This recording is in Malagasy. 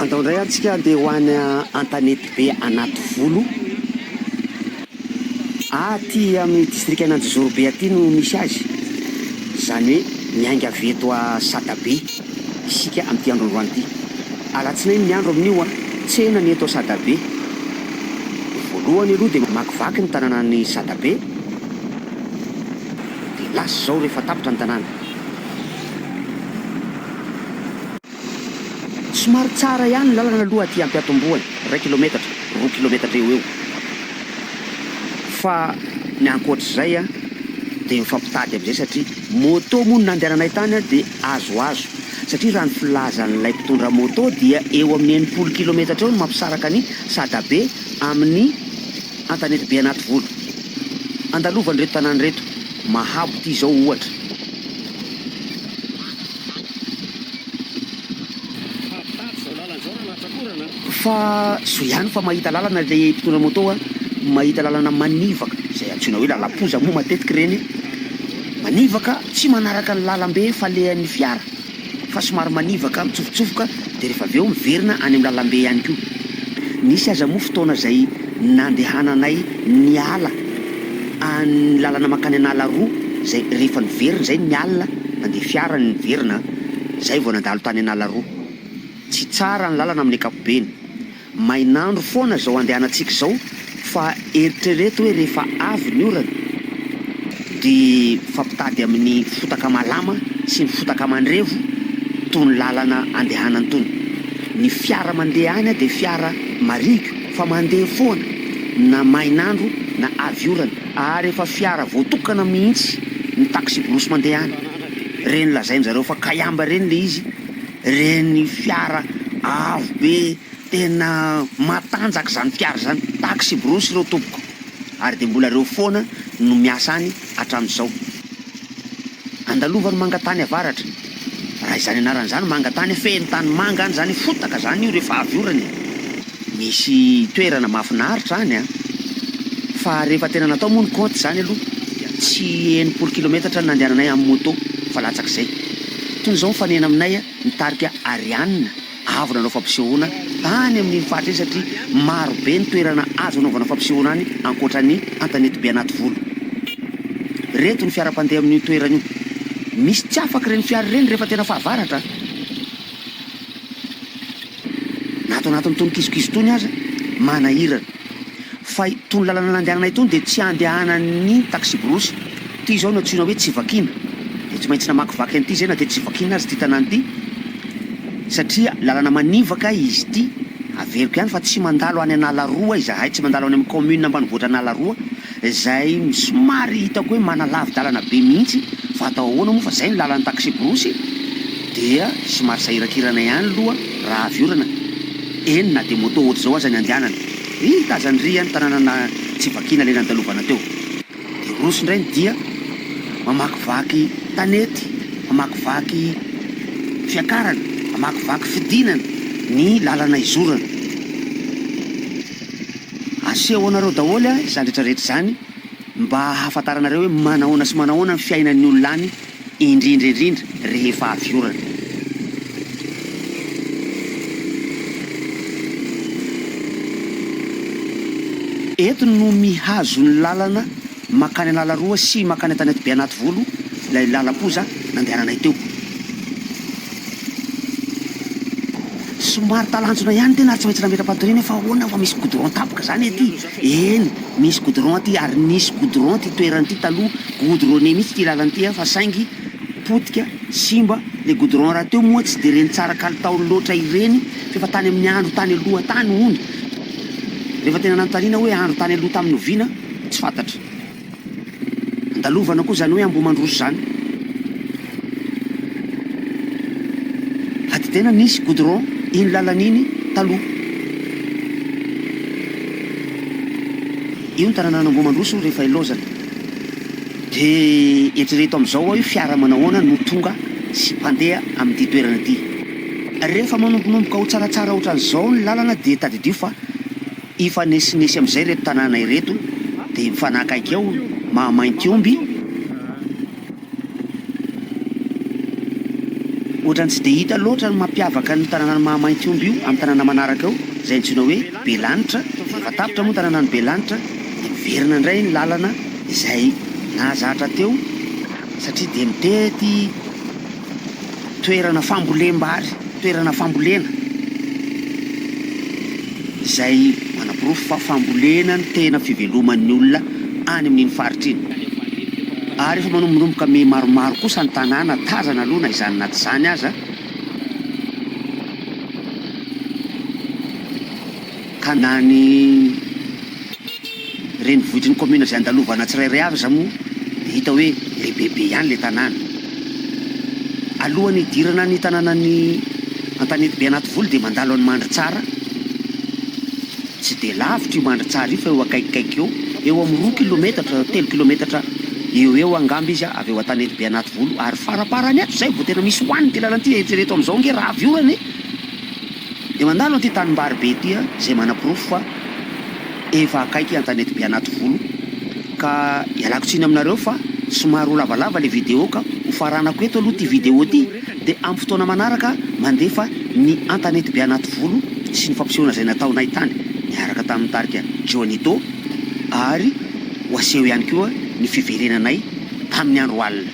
Andao indray ary tsika handeha ho any Antanety be anaty volo. Aty amin'ny distrikan'Anjozoro be aty no misy azy. Izany hoe miainga avy eto a Sadabe isika amin'ity androandroany ity. Alatsinainy ny andro amin'io a. Tsena ny eto Sadabe. Ny voalohany aloha dia mamakivaky ny tanànan'i Sadabe. Dia lasa izao rehefa tapitra ny tanàna. Somary tsara ihany ny lalana aloha aty Ampiatombohana, iray kilometatra, roa kilometatra eo ho eo, fa ny ankoatr'izay dia mifampitady amin'izay satria moto moa no nandehananay tany dia azoazo satria raha ny filazan'ilay mpitondra moto dia eo amin'ny enimpolo kilometatra eo no mampisaraka an'i Sadabe amin'ny Antanetibe Anativolo. andalovan'ireto tanàna ireto, Mahabo ity izao ohatra. Fa soa ihany fa mahita lalana ilay mpitondra moto a, mahita lalana manivaka, izay antsoina hoe lalam-poza moa matetika ireny, manivaka tsy manaraka ny lalam-be falehan'ny fiara. fa somary manivaka mitsofotsofoka dia rehefa avy eo miverina any amin'ny lalambe ihany koa. Nisy aza moa fotoana izay nandehananay niala an'ny lalana mankany an'ala roa izay rehefa niverina izay ny alina nandeha fiara ny niverina izay vao nandalo tany an'ala roa. Tsy tsara ny lalana amin'ny ankapobeny. Mainandro foana zao andehanantsika izao fa eritrereto hoe rehefa avy ny orana de mifampitady amin'ny fotaka malama sy ny fotaka mandrevo tony lalana andehanany tony. Ny fiara mandeha any de fiara marihiko fa mandeha foana na mainandro na avy orana ary efa fiara voatokana mihitsy ny taxi-brousse mandeha any. Reny lazain'zareo fa kayamba reny le izy. Ireny fiara avo be tena matanjaka izany fiara izany, taxi brousse ireo tompoko, ary dia mbola ireo foana no miasa any hatramin'izao. Andalovao ny manga tany avaratra, raha izany anarany izany manga tany, feno tany manga any izany, fotaka izany io rehefa avy orana e! Misy toerana mahafinaritra any an! Fa rehefa tena natao moa ny compte izany aloha dia tsy enimpolo kilometatra ny nandehananay amin'ny moto fa latsak'izay. Tony izao mifanena aminay ny tarika Ariane avo nanao fampisehoana tany amin'iny faritra iny satria maro be ny toerana azo anaovana fampisehoana any ankoatra ny an-tanety be Anativolo. Ireto ny fiara mpandeha amin'io toerana io. Misy tsy afaka ireny fiara ireny rehefa tena fahavaratra an! Na ato anatin'itony kisokiso itony aza, manahirana. Fa itony lalana nandehananay itony dia tsy andehanan'ny taksiborosy. Ity izao no antsoina hoe tsy vakiana. Dia tsy maintsy namakivaky an'ity izay na dia tsy vakiana aza ity tanàna ity, satria lalana manivaka izy ity. Averiko ihany fa tsy mandalo any Analaroa izahay, tsy mandalo any amin'ny kaominina ambanivohitra Analaroa. Izay somary hitako hoe manalavi-dalana be mihitsy fa atao ahoana moa fa izay ny lalan'ny taksiborosy dia somary sahirakirana ihany aloha raha avy orana, eny na dia moto ohatr'izao aza ny andehanana. Ry tazany ry an tananana tsy vakiana ilay nandalovana teo. Dia roso indray ny dia mamakivaky tanety, mamakivaky fiakarana, mamakivaky fidinana ny lalana izorana. Aseho anareo daholo izany rehetra rehetra izany mba hahafantaranareo hoe manahoana sy manahoana ny fiainan'ny olona any indrindra indrindra rehefa avy orana. Eto no mihazo ny lalana. Mankany Analaroa sy mankany Antanety Beanativolo ilay lalam-poza nandehananay teo. Somary talanjona ihany tena ary tsy maintsy nametra-patoriana fa ahoana fa misy goudron tapaka izany ety? Eny, misy goudron aty ary nisy goudron ity toerana ity taloha, goudronné mihitsy ity lalana ity fa saingy potika, simba, ilay goudron rahateo moa tsy dia ireny tsara kalitaony loatra ireny f'efa tany amin'ny andro tany aloha tany hono. Rehefa tena nanontaniana hoe andro tany aloha tamin'ny oviana? Tsy fantatra. Andalovana koa izany hoe Ambohimandroso izany. Ady tena nisy goudron iny lalana iny taloha. Io ny tananana Ambohimandroso rehefa ilaozana. Dia eritrereto amin'izao hoe fiara manahoana no tonga sy mpandeha amin'ity toerana ity. Rehefa manombonomboka ho tsaratsara ohatran'izao ny lalana dia tadidio fa. Hifanesinesy amin'izay ireto tanàna ireto, dia mifanakaiky ao Mahamaintiomby. Ohatran'ny tsy dia hita loatra ny mampiavaka ny tanànan'i Mahamaintiomby io amin'ny tanàna manaraka eo, izay antsoina hoe Belanitra. Rehefa tapitra moa ny tanànan'i Belanitra, dia miverina indray ny lalana izay nahazatra teo, satria dia mitety. Toerana fambolem-bary, toerana fambolena izay manaporofo fa fambolena no tena fiveloman'ny olona any amin'iny faritra iny. Ary efa manombonomboka miha maromaro kosa ny tanàna tazana aloha na izany na tsy izany aza. Ka na ny renivohitr'ny kaominina izay andalovana tsirairay avy aza moa dia hita hoe lehibebe ihany ilay tanàna. Alohan'ny hidirana ny tanànan'i Antanetibe Anativolo dia mandalo an'i Mandritsara. Tsy dia lavitra io Mandritsara io fa eo akaikikaiky eo, eo amin'ny roa kilometatra, telo kilometatra eo eo angamba izy avy eo Antanetibe Anativolo ary faraparany ato izay vao tena misy hohanina ity lalana ity. Eritrereto amin'izao ange raha avy orana e! Dia mandalo an'ity tanimbary be ity aho izay manaporofo fa efa akaiky an-tanety be anativolo ka ialako tsiny aminareo fa somary ho lavalava ilay vidéo ka ho faranako eto aloha ity vidéo ity dia amin'ny fotoana manaraka mandefa ny an-tanety be anativolo sy ny fampisehoana izay nataonay tany niaraka tamin'ny tarika Johnito ary ho aseho ihany koa ny fiverenanay tamin'ny andro alina